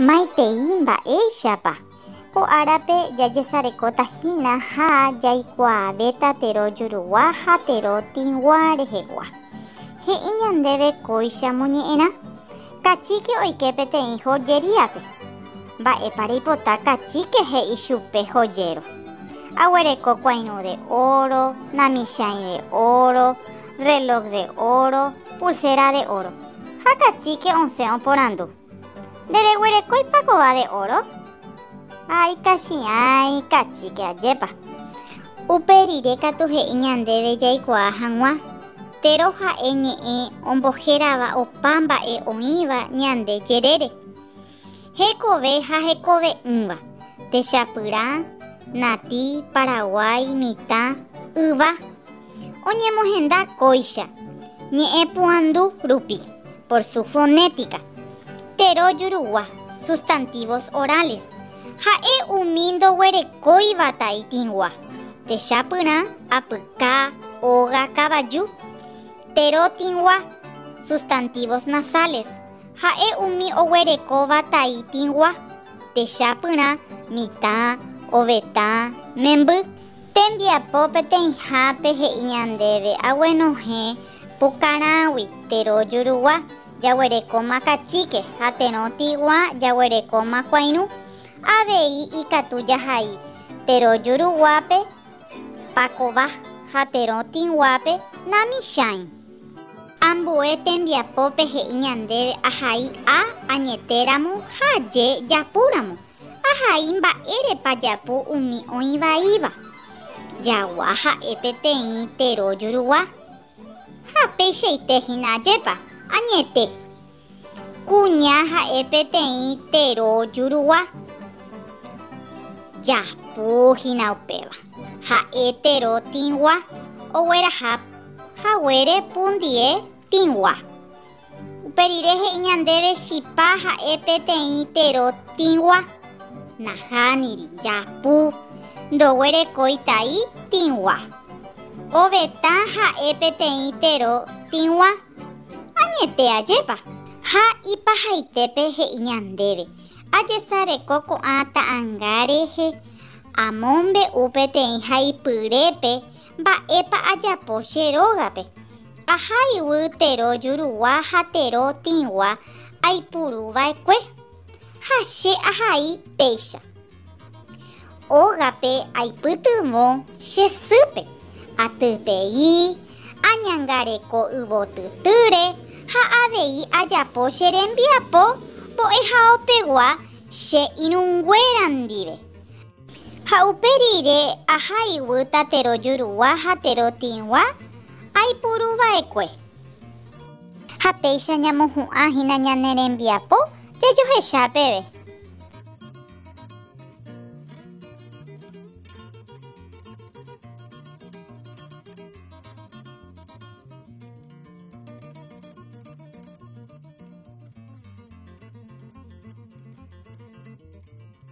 Maitei mba'éichapa. Ko árape jajesarekóta hína ha jaikuaavéta tero jurugua ha tero tĩgua rehegua. He'i ñandéve kóicha moñe'ẽrã. Kachíke oike peteĩ hojeríape. Mba'épa reipota kachíke he'i chupe hojéro. Aguereko kuãirũ de óro, namichãi de óro, rrelók de óro, pulséra de óro. Ha kachíke osẽ oporandu. Ndereguerekóipa kóva de óro? Ha ikachiã, ikachíke, ajépa! Upe rire katu he'i ñandéve jaikuaa hag̃ua, térõ ha'e ñe'ẽ ombohérava opa mba'e oĩva ñande jerére. Hekove ha hekove'ỹva, techapyrã, natĩ, paraguái, mitã, yva. Oñemohenda kóicha, ñe'ẽpu'andu rupi, por su fonética, tero jurugua, sustantivos orales, ha'e umi ndoguerekóiva taitĩgua, techapyrã, apyka, óga, kavaju, tero tĩgua, sustantivos nasales, ha'e umi oguerekóva taitĩgua, techapyrã, mitã, ovetã, memby. Tembiapo peteĩhápe he'i ñandéve aguenohẽ pukarãgui tero jurugua, jaguerekóma kachíke, ha terõ tiguã jaguerekóma kuãirũ. Avei ikatu jahai tero juruguápe pakova ha terõ tĩguápe namichãi. Ambue tembiapópe he'i ñandéve ahai a añetéramo ha aje japúramo. Ahai mba'érepa japu umi oĩ vaíva. Jagua ha'e peteĩ tero jurugua. Ha peichaite hína ajépa, añete. Kuña ha'e peteĩ tero jurugua. Japu hína upéva. Ha'e tero tĩgua, ogueraha haguére pundie tĩgua. Upe rire he'i ñandéve chipa ha'e peteĩ tero tĩgua. Nahániri, japu, ndoguerekói tai tĩgua. Ovetã ha'e peteĩ tero tĩgua. Añete ajépa? Ha ipahaitépe he'i ñandéve, Ajesareko ko'ã ta'anga rehe, amombe'u peteĩ haipyrépe Mba'épa ajapo che rógape? Aha yvy tero jurugua ha tero tĩgua aipuru va'ekue, ha che ahai péicha. Ógape aipytyvõ che sýpe, atypei, añangareko yvotytýre ha avei ajapo che rembiapo mbo'ehaopegua che irũnguéra ndive. Ha upe rire aha iguýta tero jurugua ha tero tĩgua aipuru va'ekue. Ha péicha ñamohu'ã hína ñane rembiapo jajohecha peve.